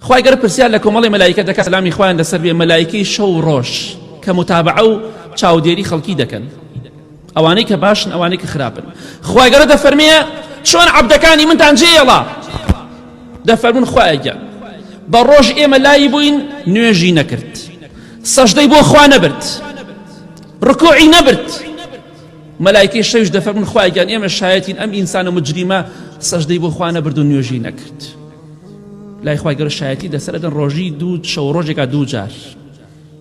خوای گەر پرسیار لە کۆمەڵی مەلایکە دەکە سلامی خوایان لەسەر بێ مەلایکەی شەو ڕۆژ کە متابعە و چاودێری خەڵکی دەکەن ئەوانەی کە باشن ئەوانەی کە خراپن خوای گەرە دەفەرمەیە چۆن عبدەکانی منتان جێڵا دەفەرمون خوایگە بە ڕۆژ ئێمە لایی بووین نوێژی نەکرد سەشدەی بۆ خوا نەبرد ڕکۆعی نەبرد مەلایکی شەوش دەفەرمون خوایگەن ئێمە شایەتین ئەم ئینسانە مجریمە سەشدەی بۆ خوا نەبرد و نوێژی نەکرد. لای خوای گەورە شایەتی لەسەر ئەدەن ڕۆژی دوو شەو ڕۆژێکا دوو جار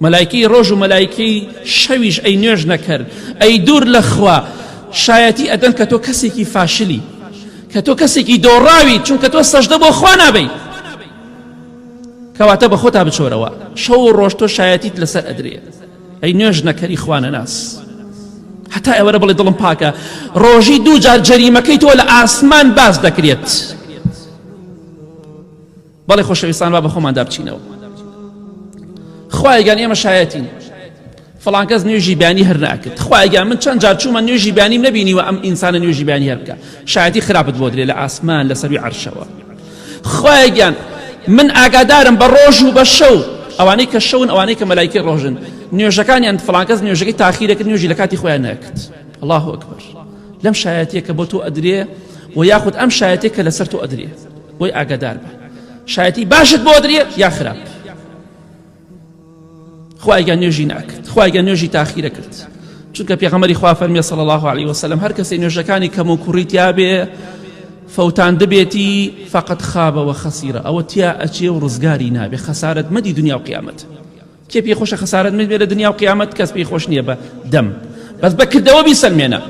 مەلایکی ڕۆژ و مەلایکی شەویش ئەی نوێژ نەکرد ئەی دوور لەخوا شایەتی ئەدەن کە تۆ کەسێکی فاشلی کە تۆ کەسێکی دۆڕاوی چونکە تۆ سەشدە بۆ خوا نابی کەواتە بە خۆتا بچۆرەوە شەو ڕۆژ تۆ شایەتیت لەسەر ئەدرێت ئەی نوێژ نەکەری خوانەناس هەتا ئێوەرە بڵێ دڵم پاکە ڕۆژی دوو جار جەریمەکەی تۆ لە ئاسمان باز دەکرێت بەڵێ خۆشەویستان با بە خۆماندا بچینەوە خوایگەان ئێمە شایەتین فلانکەس نوێژی بیانی هەر ناکرد خوایگە من چەند جار چوومە نوێژی بیانیم نبینیوە ئەم ئینسانە نوێژی بیانی هەرکە شایەتی خراپت بۆ درێ لە ئاسمان لە سەروی عرشەوە خوایە گیان من ئاگادارم بە ڕۆژ و بە شەو ئەوانەی کە شەون ئەوانەی کە مەلایکەی ڕۆژن نوێژەکانیان فڵانکەس نوێژەکەی تاخیرەکرد نوێژی لە کاتی خۆیان نەکرد الله ئەکبەر لەم شایەتیە کە بۆ تۆ ئەدرێ و یاخود ئەم شایەتێک کە لەسەر تۆ ئەدرێ بۆی ئاگادار بە شایەتی باشت بۆ درێ یا خراپ خوایگە نوێژی ناکرد خوایگە نوێژی تاخیرە کرد چونکە پێغەمەری خوا فەرمیێ سەڵ الله عليه وسلم هەر کەسی نوێژەکانی کەم و کوڕی تیاابێ فەوتان دەبێتی فقط خابەوە خەسیرە ئەوە تیا ئەچێ و ڕزگاری نابێ خەسارت مەدی دنیا و قیامەت کێ پێ خۆشە خەسارت من بێ لە دنیا و قیامەت کەس پێی خۆش نییە بە دەم بەس بەکردەوە بیسەلمێنە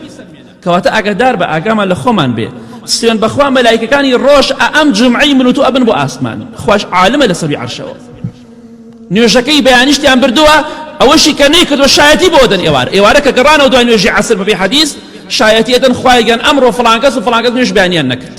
کەواتە ئاگادار بە ئاگامان لە خۆمان بێ سوێن بەخوا مەلایکەکانی ڕۆژ ئەم جومعەی من و تۆ ئەبن بۆ ئاسمانی خوش عالمە لە سەروی عەرشەوە نوێژەکەی بەیانیشتیان بردووە ئەوەشی کە نەیکردوە شایەتی بۆ دەن ئێوار ئێوارە کە گەڕانەوە دوای نوێژی عەسر بەبێ حەدیث شایەتی ئەدەن خوایگەن ئەمڕۆ فڵانکەس و فڵانکەس نوێژ بەیانیان نەکرد